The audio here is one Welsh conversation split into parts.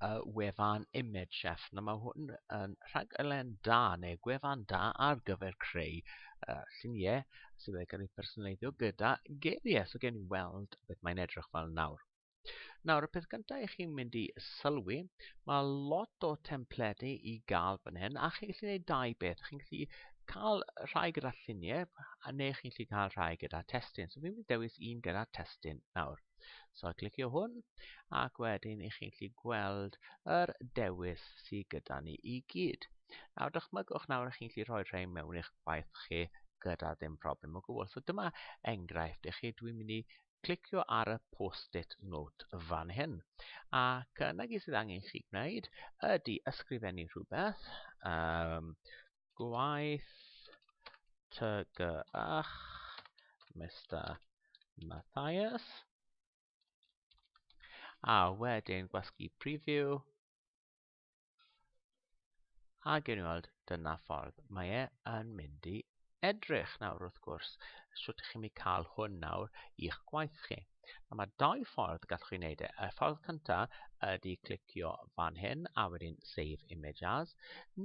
uh, wefan Image Chef. Na, mae hwn yn rhaglen da neu gwefan da ar gyfer creu uh, lluniau sydd wedi cael ei personaleiddio gyda geiriau. So gen i weld beth mae'n edrych fel nawr. Nawr, y peth gyntaf i chi'n mynd i sylwi, mae lot o templedu i gael fan hyn, a chi'n gallu gwneud dau beth. Chi'n gallu cael rhai gyda lluniau, a neu chi'n gallu cael rhai gyda testyn. So fi'n mynd i dewis un gyda testyn nawr. So clicio hwn ac wedyn i chi'n gallu gweld yr dewis sydd gyda ni i gyd. Nawr dychmygwch nawr i chi'n gallu rhoi rhain mewn i'ch gwaith chi gyda ddim problem o gwbl. So dyma enghraifft i chi, dwi'n mynd i clicio ar y post-it note fan hyn. Ac yna gyd sydd angen chi gwneud ydy ysgrifennu rhywbeth. Um, gwaith tygyrch Mister Mathias. A wedyn gwasgu preview. A gen i weld, dyna ffordd mae e yn mynd i edrych nawr wrth gwrs. Sut ych chi'n mynd cael hwn nawr i'ch gwaith chi? A mae dau ffordd gallwch chi wneud e. Y ffordd cyntaf ydy clicio fan hyn a wedyn Save Image As,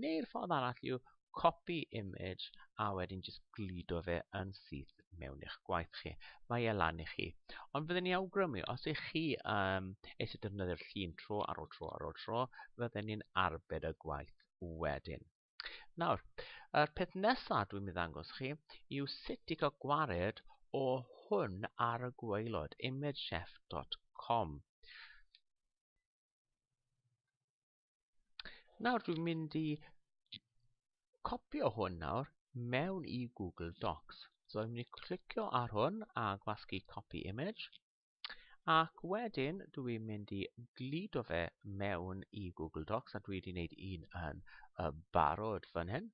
neu'r ffordd arall yw copy image a wedyn jyst gludo fe yn syth mewn i'ch gwaith chi. Mae e lan i chi. Ond fydden ni awgrymu, os ych chi um, eisiau defnyddio'r llun tro ar ôl tro ar ôl tro, fydden ni'n arbed y gwaith wedyn. Nawr, yr peth nesaf dwi'n mynd ddangos chi yw sut i cael gwared o hwn ar y gwaelod, imagechef.com. Nawr dwi'n mynd i copio hwn nawr mewn i Google Docs. So dwi'n mynd i clicio ar hwn a gwasgu copy image. Ac wedyn dwi mynd i gludo fe mewn i Google Docs a dwi wedi gwneud un yn y barod fan hyn.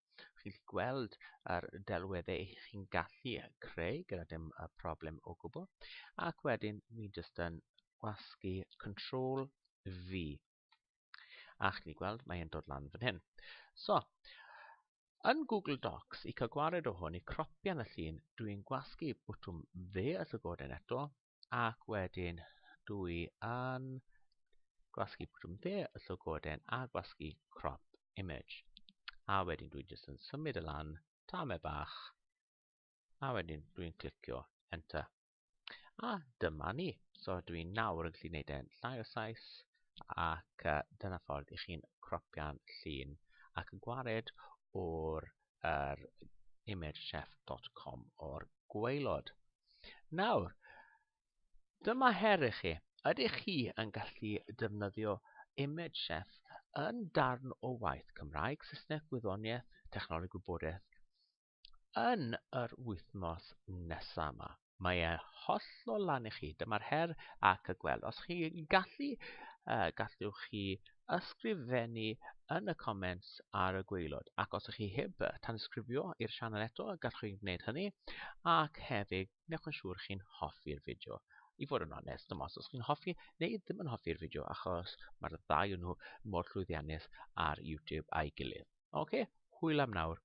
Chi'n gallu gweld yr delweddau eich chi'n gallu creu gyda dim y problem o gwbl. Ac wedyn mi jyst yn gwasgu Control V A chni gweld, mae e'n dod lan fan hyn. So, yn Google Docs, i cael gwared o hwn, i cropian y llun, dwi'n gwasgu bwtwm dde y llygoden eto, ac wedyn dwi yn gwasgu bwtwm dde y llygoden a gwasgu crop image. A wedyn dwi'n jyst yn symud y lan, tame bach, a wedyn dwi'n clicio enter. A dyma ni. So dwi nawr yn gallu gwneud e'n llai o sais ac uh, dyna ffordd i chi'n cropio'n llun ac yn gwared o'r er, imagechef.com o'r gweilod. Nawr, dyma her i chi. Ydych chi yn gallu defnyddio Image Chef yn darn o waith Cymraeg, Saesneg, Gwyddoniaeth, Technoleg Gwybodaeth yn yr wythnos nesaf yma. Mae e hollol lan i chi. Dyma'r her ac y gweld. Os chi gallu, uh, gallwch chi ysgrifennu yn y comments ar y gweilod. Ac os ych chi heb tansgrifio i'r sianel eto, gallwch chi'n gwneud hynny. Ac hefyd, newch yn siŵr chi'n hoffi'r fideo. I fod yn onest, dim os chi'n hoffi neu ddim yn hoffi'r fideo, achos mae'r ddau nhw mor llwyddiannus ar YouTube a'i gilydd. Oce, okay, hwyl am nawr.